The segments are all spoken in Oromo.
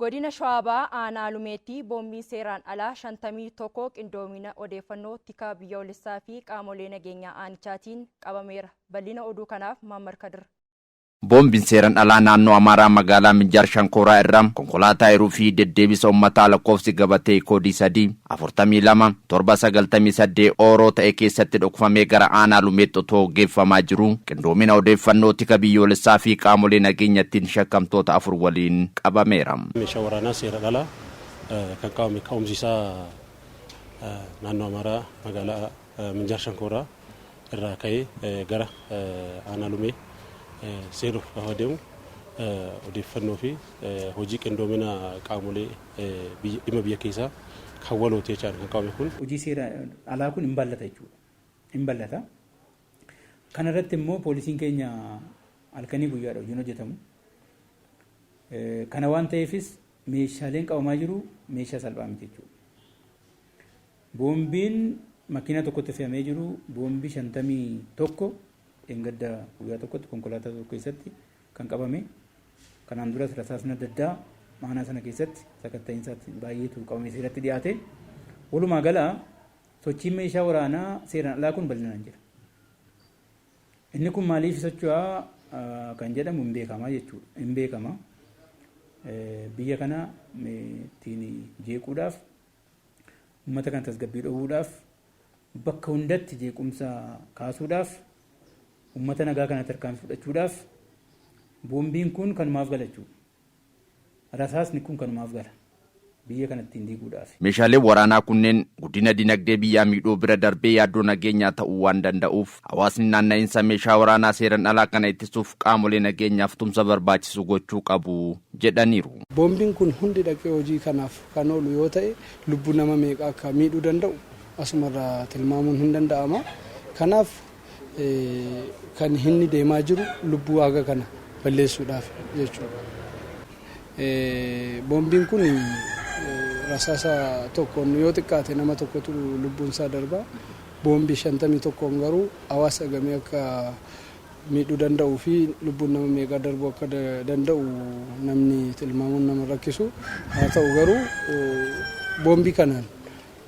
Godina Shawaa Bahaa aanaa Lumeetti boombiin seeraan alaa 51 qindoomina odeeffannoo tika biyyoolessaa fi qaamolee nageenyaa aanichaatiin qabameera. Bal'ina oduu kanaaf Maammar Kadir. Boombiin seeran alaa naannoo Amaaraa magaalaa Minjaar Shankooraa irraa konkolaataa hiruu fi deddeebisa ummataa lakkoofsi gabatee koodii 3, 42, 7, 98 Ooroo ta'e keessatti dhokfamee gara aanaa Lumeetti otoo geeffamaa jiruu qindoomina odeeffannoo tika biyyoolessaa fi qaamolee nageenyattiin shakkamtoota afur waliin qabameera. Meeshaa waraanaa seeran alaa kan qabame ka'umsi isaa naannoo Amaaraa magaalaa. Minjaar Shankooraa irraa ka'ee gara Aanaa Lumee seenuuf gaafa deemu odeeffannoo fi hojii qindoomina qaamolee dhimma biyya keessaa kan walooti jechaan kan qabame kun. Hojii seera alaa kun hin bal'ata jechuudha. Hin bal'ata. Kana irratti immoo poolisiin keenya halkanii guyyaadha hojiin hojjetamu. Kana waan ta'eefis meeshaaleen qabamaa jiru meeshaa salphaa miti jechuudha. Boombiin makiinaa tokkotti fe'amee jiru boombii 51 dheengadda guyyaa tokkotti konkolaataa tokko keessatti kan qabame. Kanaan duras rasaasni adda addaa aanaa sana keessatti sakatta'iinsaatti baay'eetu qabamee seeratti dhiyaate. Walumaa gala sochiin meeshaa waraanaa seeraan alaa kun bal'inaan jira. Inni kun maaliif socho'a kan jedhamu hin beekama jechuudha. Hin beekama. Biyya kana ittiin jeequudhaaf Uummata kana tasgabbii dhowwuudhaaf, bakka hundatti jeequmsa kaasuudhaaf, uummata nagaa kana tarkaanfii fudhachuudhaaf boombiin kun kanumaaf gala jechuudha. Rasaasni kun kanumaaf gala. Biyya kana ittiin diiguudhaafi. Meeshaaleen waraanaa kunneen guddina dinagdee biyyaa miidhuu bira darbee yaaddoo nageenyaa ta'uu waan danda'uuf hawaasni naanna'insa meeshaa waraanaa seeran alaa kana ittisuuf qaamolee nageenyaaf tumsa barbaachisu gochuu qabu jedhaniiru. Boombiin kun hundi dhaqee hojii kanaaf kan oolu yoo ta'e lubbuu nama meeqaa akka miidhuu danda'u asumarraa tilmaamuun hin danda'ama. Kanaaf kan inni deemaa jiru lubbuu haga kana balleessuudhaaf jechuudha. Boombiin kun rasaasa tokkoon yoo xiqqaate nama tokkotu lubbuun isaa darba. Boombii shantamii tokkoon garuu hawaasa gamee akka miidhuu danda'uu fi lubbuun nama meeqaa darbuu akka danda'u namni tilmaamuun nama rakkisu. Haa ta'u garuu boombii kanaan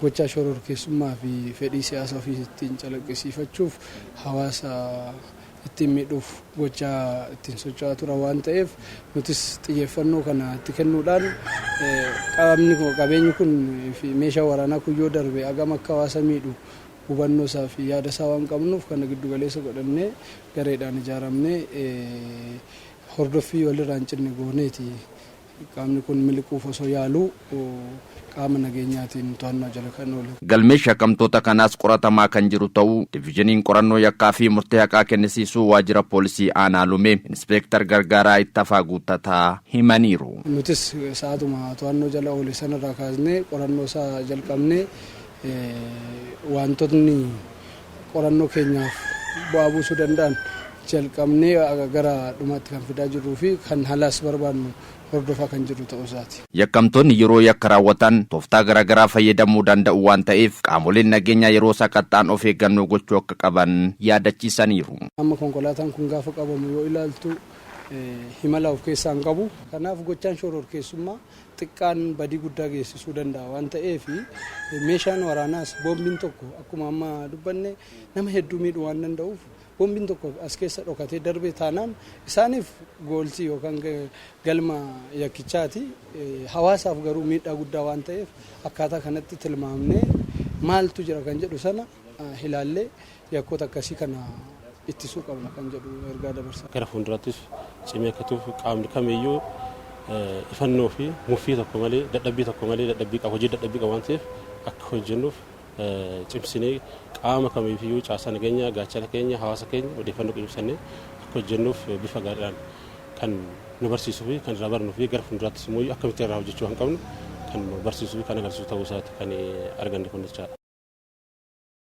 gochaa shororkeessummaa fi fedhii siyaasa ofii ittiin calaqqisiifachuuf hawaasa ittiin miidhuuf gochaa ittiin socho'aa turan waan ta'eef nutis xiyyeeffannoo kana itti kennuudhaan qaamni qabeenyi kun fi meeshaa waraanaa kun yoo darbe agam akka hawaasa miidhu hubannoo isaa fi yaada isaa waan qabnuuf kana giddu galeessa godhannee gareedhaan ijaaramnee hordoffii walirraa hin cinne gooneeti qaamni kun miliquuf osoo yaaluu qaama nageenyaatiin to'annoo jala kan oole. Galmeen shakkamtoota kanaas qoratamaa kan jiru ta'uu Divizhiniin Qorannoo Yakkaa fi Murtee Haqaa Kennisiisuu Waajjira Poolisii Aanaa Lumee Inispeektar Gargaaraa Ittafaa Guuttataa himaniiru. Nutis sa'aatuma to'annoo jala oole sanarraa kaasnee qorannoo isaa jalqabnee Waantotni qorannoo keenyaaf bu'aa buusuu danda'an jalqabnee gara dhumaatti kan fidaa jirruu fi kan halaas barbaadnu hordofaa kan jirru ta'uu isaati. Yakkamtoonni yeroo yakka raawwatan tooftaa garaagaraa fayyadamuu danda'u waan ta'eef qaamoleen nageenyaa yeroo sakatta'an of eeggannoo gochuu akka qaban yaadachiisaniiru. Amma konkolaataan kun gaafa qabamu yoo ilaaltu himala of keessaa hin qabu. Kanaaf gochaan shororkeessummaa. xiqqaan badii guddaa geessisuu danda'a waan ta'eef meeshaan waraanaas boombiin tokko akkuma amma dubbanne nama hedduu miidhuu waan danda'uuf boombiin tokko as keessa dhokatee darbee taanaan isaaniif gooltii yookaan galma yakkichaati hawaasaaf garuu miidhaa guddaa waan ta'eef akkaataa kanatti tilmaamnee maaltu jira kan jedhu sana ilaallee yakkoota akkasii kana ittisuu qabna kan jedhu ergaa dabarsaa. Gara fuulduraattis cimee akka itti fufu qaamni kamiyyuu ifannoo fi muffii tokko malee dadhabbii tokko malee dadhabbii qabu hojii dadhabbii qabu waan ta'eef akka hojjennuuf cimsinee qaama kamiifiyyuu caasaa nageenyaa gaachana keenya hawaasa keenya odeeffannoo qinimsannee akka hojjennuuf bifa gaariidhaan kan nu barsiisuu fi kan irraa barnuu fi gara fuulduraattis immoo akkamitti irraa hojjechuu kan qabnu kan nu barsiisuu fi kan agarsiisu ta'uu isaati kan arganne kun jechaadha.